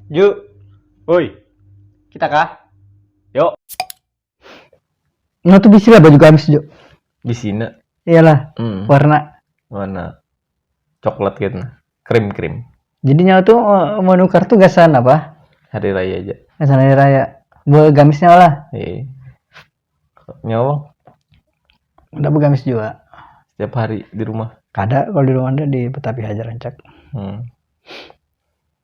Ju, oi, kita kah? Yo. Nah tuh bisi lah baju gamis Ju. Bisi nak. Iyalah, hmm. warna. Warna coklat gitu, krim krim. Jadi nyawa tuh eh, mau nukar tuh gasan apa? Hari raya aja. Gasan hari raya. Buat gamisnya lah. Iya. Nyawa. Udah begamis juga. Setiap hari di rumah. Kada kalau di rumah ada di Petapi Hajar Rancak. Hmm.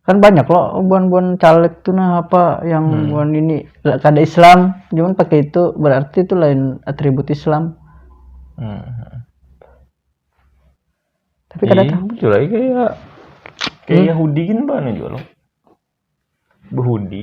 kan banyak loh buan-buan caleg tuh nah apa yang hmm. buan ini kada Islam cuman pakai itu berarti itu lain atribut Islam hmm. tapi kada iya, tahu itu lagi kayak kayak hmm? Yahudi kan banyak juga loh Yahudi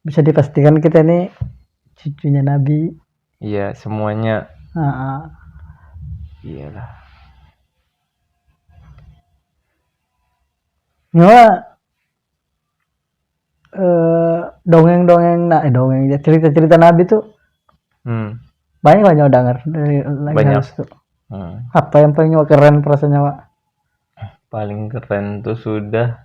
bisa dipastikan kita ini cucunya Nabi. Iya, semuanya. Heeh. Iyalah. Nyawa eh, dongeng-dongeng nah eh, dongeng ya, cerita-cerita Nabi tuh Hmm. banyak lah nyawa dengar dari lagi Banyak. harus tuh. Hmm. Apa yang paling nyawa keren perasaan nyawa? Paling keren tuh sudah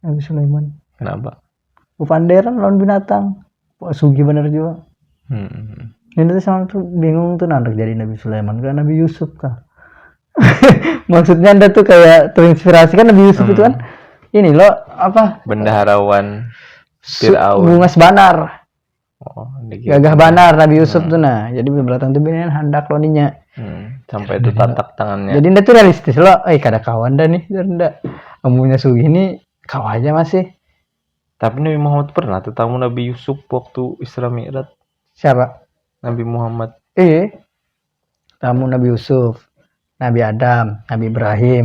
Nabi Sulaiman kenapa kepanderan lawan binatang Wah, sugi bener juga hmm. ini tuh sama tuh bingung tuh nanti jadi Nabi Sulaiman ke Nabi Yusuf kah maksudnya anda tuh kayak terinspirasi kan Nabi Yusuf hmm. itu kan hmm. ini loh apa bendaharawan Fir'aun bungas banar Oh, Gagah banar Nabi Yusuf hmm. tuh nah. Jadi beberatan tuh binian handak lo ninya. Hmm. Sampai itu tatak tangannya. Jadi ndak tuh realistis lo. Eh kada kawan dah nih, ndak. Amunya sugi nih kau aja masih. Tapi Nabi Muhammad pernah tetamu Nabi Yusuf waktu Isra Mi'raj. Siapa? Nabi Muhammad. Eh, tamu Nabi Yusuf, Nabi Adam, Nabi Ibrahim,